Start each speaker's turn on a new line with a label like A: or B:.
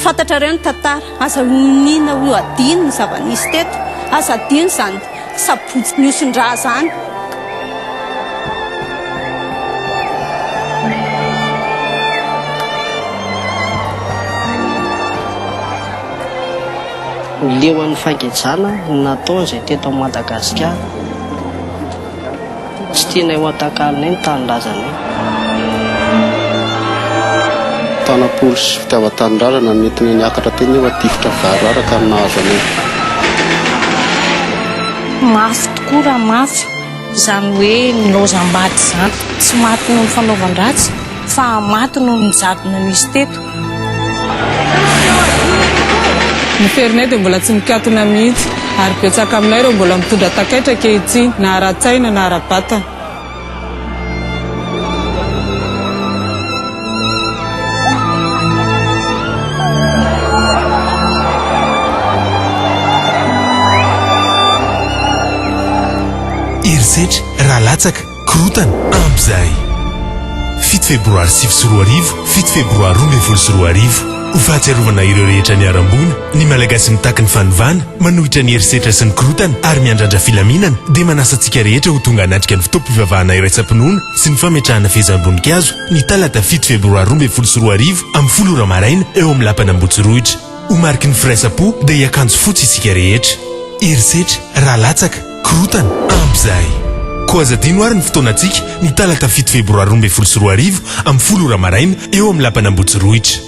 A: Fantatrareo ny tantara, aza oniana ho adino ny zava-nisy teto, aza adino izany sabotsy niosin-drà izany. Leo an'ny fangejana ny nataony izay teto Madagasikara. Tsy tianay ho atakalinay ny tanindrazanay. Tanam-polo sy fitiavan-tanindrazana no nentinay niakatra teny nefa tifitra voararaka no nahazo anay. Mafy tokoa raha mafy izany hoe nilaozam-bady izany. Tsy maty noho ny fanaovan-dratsy fa maty noho ny jadona nisy teto. Ny ferinay dia mbola tsy mikatona mihitsy ary betsaka aminay ireo mbola mitondra takaitra ankehitriny, na ara-tsaina na ara-batana. Herisetra raha latsaka. Korontana amin'izay. Fito febroary sivy sy roa arivo, fito febroary roa ambin'ny folo sy roa arivo. Ho fahatsiarovana ireo rehetra niharam-boina, ny Malagasy mitaky ny fanovana, manohitra ny herisetra sy ny korontana ary miandrandra filaminana dia manasa antsika rehetra ho tonga hanatrika ny fotoam-pivavahana iraisam-pinoana sy ny fametrahana fehezam-boninkazo ny talata fito febroary roa ambin'ny folo sy roa arivo amin'ny folo ora maraina eo amin'ny Lapan' Ambotsirohitra. Ho mariky ny firaisam-po dia hiakanjo fotsy isika rehetra. Herisetra raha latsaka. Korontana ampy izay. Koa aza adino ary ny fotoanantsika, ny talata fito febroary roa ambin'ny folo sy roa arivo, amin'ny folo ora maraina, eo amin'ny lapan'Ambohitsirohitra.